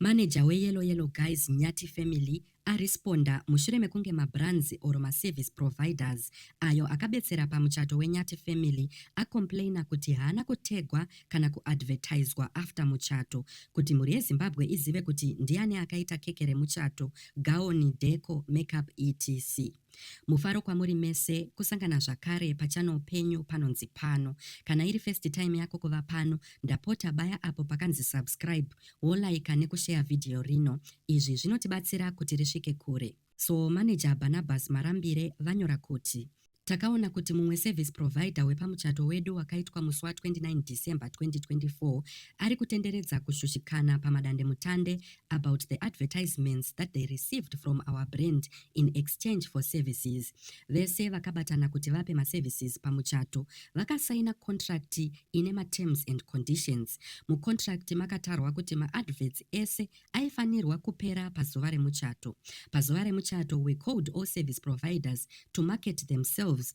Manager we Yellow Yellow Guys Nyati Family aresponda mushure mekunge mabrands or maservice providers ayo akabetsera pamuchato weNyati Family acomplainer kuti haana kutagwa kana kuadvertiswa after muchato kuti mhuri yeZimbabwe izive kuti ndiani akaita keke remuchato, gaoni, deco, makeup etc. Mufaro kwamuri mese kusangana zvakare pachannel penyu panonzi pano. Kana iri first time yako kuva pano, ndapota baya apo pakanzi subscribe wolaika nekushare video rino. Izvi zvinotibatsira kuti risvike kure. So manager Barnabas Marambire vanyora kuti Takaona kuti mumwe service provider wepamuchato wedu wakaitwa musi wa 29 December 2024 ari kutenderedza kushushikana pamadandemutande about the advertisements that they received from our brand in exchange for services vese vakabatana kuti vape maservices pamuchato vakasaina contract ine materms and conditions mucontract makatarwa kuti maadverts ese aifanirwa kupera pazuva remuchato pazuva remuchato we called all service providers to market themselves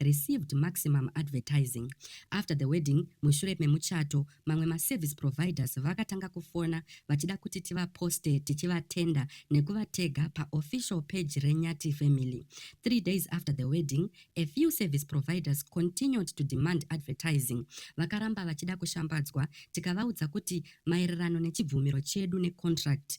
received maximum advertising. After the wedding, mushure memuchato, mamwe maservice providers vakatanga kufona vachida kuti tivaposte tichivatenda nekuvatega paofficial page reNyati family. Three days after the wedding, a few service providers continued to demand advertising. Vakaramba vachida kushambadzwa tikavaudza kuti maererano nechibvumiro chedu necontract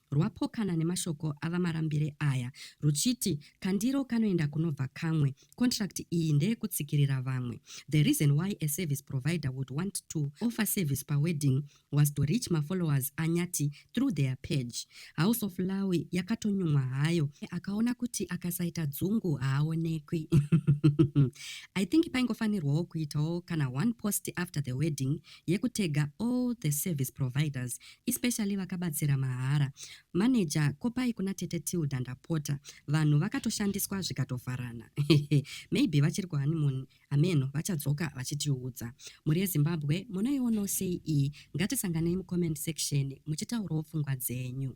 rwapokana nemashoko aVaMarambire aya ruchiti kandiro kanoenda kunobva kamwe, contract iyi ndeyekutsikirira vamwe. The reason why a service provider would want to offer service pawedding was to reach mafollowers aNyati through their page. House of Lawi yakatonyumwa hayo, akaona kuti akasaita dzungu haaonekwi. I think paingofanirwawo kuitawo kana one post after the wedding yekutega all the service providers especially vakabatsira mahara. Manager kopai kuna tete Tilda ndapota. Vanhu vakatoshandiswa zvikatovharana. Maybe vachiri kuhoneymoon hameno vachadzoka vachitiudza. Mhuri yeZimbabwe munoionawo sei iyi? Ngatisanganei mucomment section muchitaurawo pfungwa dzenyu.